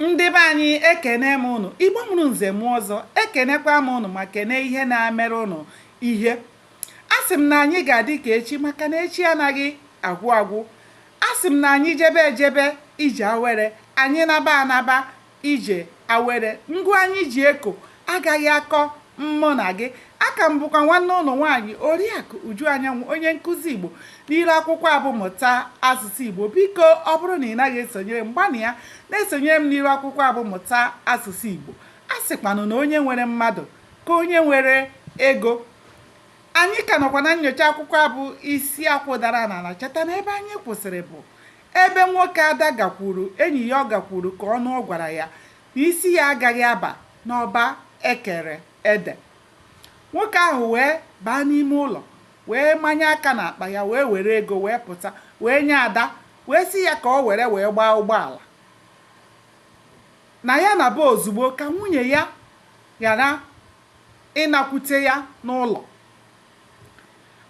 Ndị be anyị ekene m ụnụ, Igbo mụrụ nze mụọ ọzọ, ekenekwa m ụnụ ma kene ihe na-emere ụnụ ihe. A sị m na anyị ga-adị ka echi maka na echi anaghị agwụ agwụ. A sị m na anyị jebe ejebe ije awere, anyị naba anaba ije awere. Ngụ anyị ji eko agaghị akọ mmụ na gị a ka m bụkwa nwanne ụnụ nwaanyị oriakụ uju anyanwụ onye nkụzi igbo n'iru akwụkwọ a bụ mụta asụsụ igbo biko ọ bụrụ na ị naghị esonyere m gbanịa na-esonyere m n'iru akwụkwọ a bụ mụta asụsụ igbo a sịkwanụ na onye nwere mmadụ ka onye nwere ego anyị ka nọkwa na nnyocha akwụkwọ a bụ isi akwụ dara n'ala cheta na ebe anyị kwụsịrị bụ ebe nwoke ada gakwuru enyi ya ọ gakwuru ka ọ nụọ gwara ya Isi ya agaghị aba n'ọba e kere ede. Nwoke ahụ wee baa n'ime ụlọ, wee manye aka n'akpa ya, wee were ego, wee pụta, wee nye Ada, wee sị ya ka o were wee gbaa ụgbọala. Na ya naba ozugbo ka nwunye ya ghara ịnakwute ya n'ụlọ.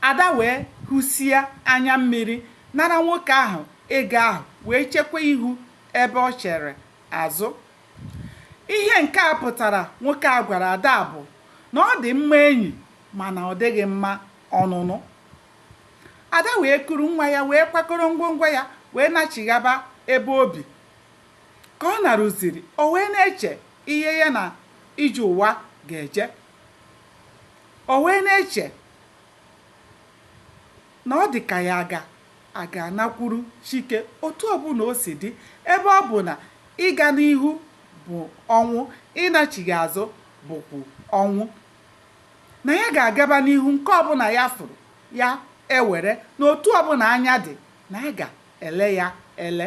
Ada wee hụsie anya mmiri, nara nwoke ahụ ego ahụ, wee chekwa ihu ebe o chere azụ ihe nke a pụtara nwoke a gwara ada bụ na ọ dị mma enyi mana ọ dịghị mma ọnụnụ ada wee kuru nwa ya wee kwakọrọ ngwongwo ya wee nachighaba ebe obi ka ọ naruziri o wee na-eche ihe ya na ije ụwa ga-eje o wee na-eche na ọ dị ka ya aga Aga anakwuru Chike otu ọbụla o si dị ebe ọ bụ na ịga n'ihu bụ ọnwụ, ịnachigha azụ bụkwa ọnwụ. Na ya ga-agaba n'ihu nke ọbụla ya fụrụ ya ewere na otu ọbụla anya dị na ya ga-ele ya ele.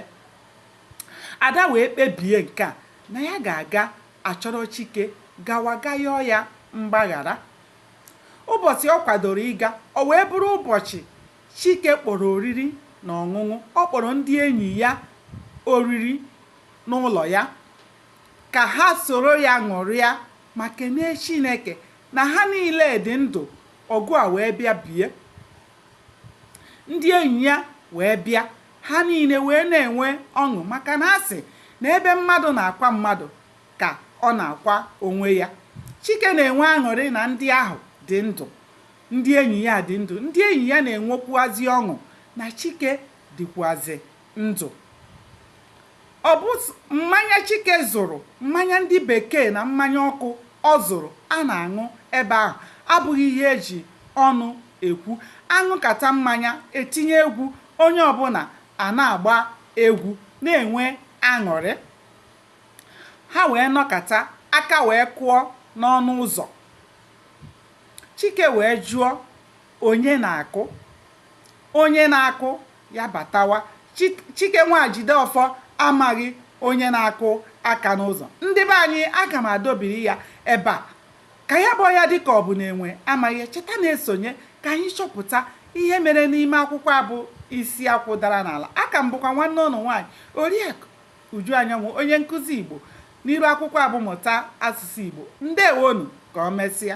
Ada wee kpebie nke a na ya ga-aga achọrọ Chike gawa ga yọọ ya mgbaghara. Ụbọchị ọ kwadoro ịga, o wee bụrụ ụbọchị Chike kpọrọ oriri na ọṅụṅụ. Ọ kpọrọ ndị enyi ya oriri n'ụlọ ya ka ha soro ya ṅụrịa ma kenee Chineke na ha niile dị ndụ ọgụ a wee bịa bie. Ndị enyi ya wee bịa, ha niile wee na-enwe ọṅụ maka na a sị na ebe mmadụ na-akwa mmadụ ka ọ na-akwa onwe ya. Chike na-enwe aṅụrị na ndị ahụ dị ndụ. ndị enyi ya dị ndụ ndị enyi ya na-enwekwuazị ọṅụ na chike dịkwuazị ndụ ọ bụ mmanya chike zụrụ mmanya ndị bekee na mmanya ọkụ ọ zụrụ a na-aṅụ ebe ahụ abụghị ihe eji ọnụ ekwu aṅụkata mmanya etinye egwu onye ọbụla a na-agba egwu na-enwe aṅụrị ha wee nọkata aka wee kụọ n'ọnụ ụzọ Chike wee jụọ, Onye na-akụ? Onye na-akụ ya batawa. Chi, Chike nwa Jideọfọ amaghị onye na-akụ aka n'ụzọ. Ndị be anyị, aga m adobiri ya ebe a. Ka ya bọọ ya dịka ọ bụ na enwe amaghị ya. Cheta na-esonye ka anyị chọpụta ihe mere n'ime akwụkwọ a bụ Isi Akwụ Dara n'Ala. Aka m bụkwa nwanne ụnụ nwaanyị, Oriakụ Uju Anyanwụ, onye nkụzi Igbo n'iru akwụkwọ a bụ Mụta Asụsụ Igbo. Ndewonu, ka o mesịa.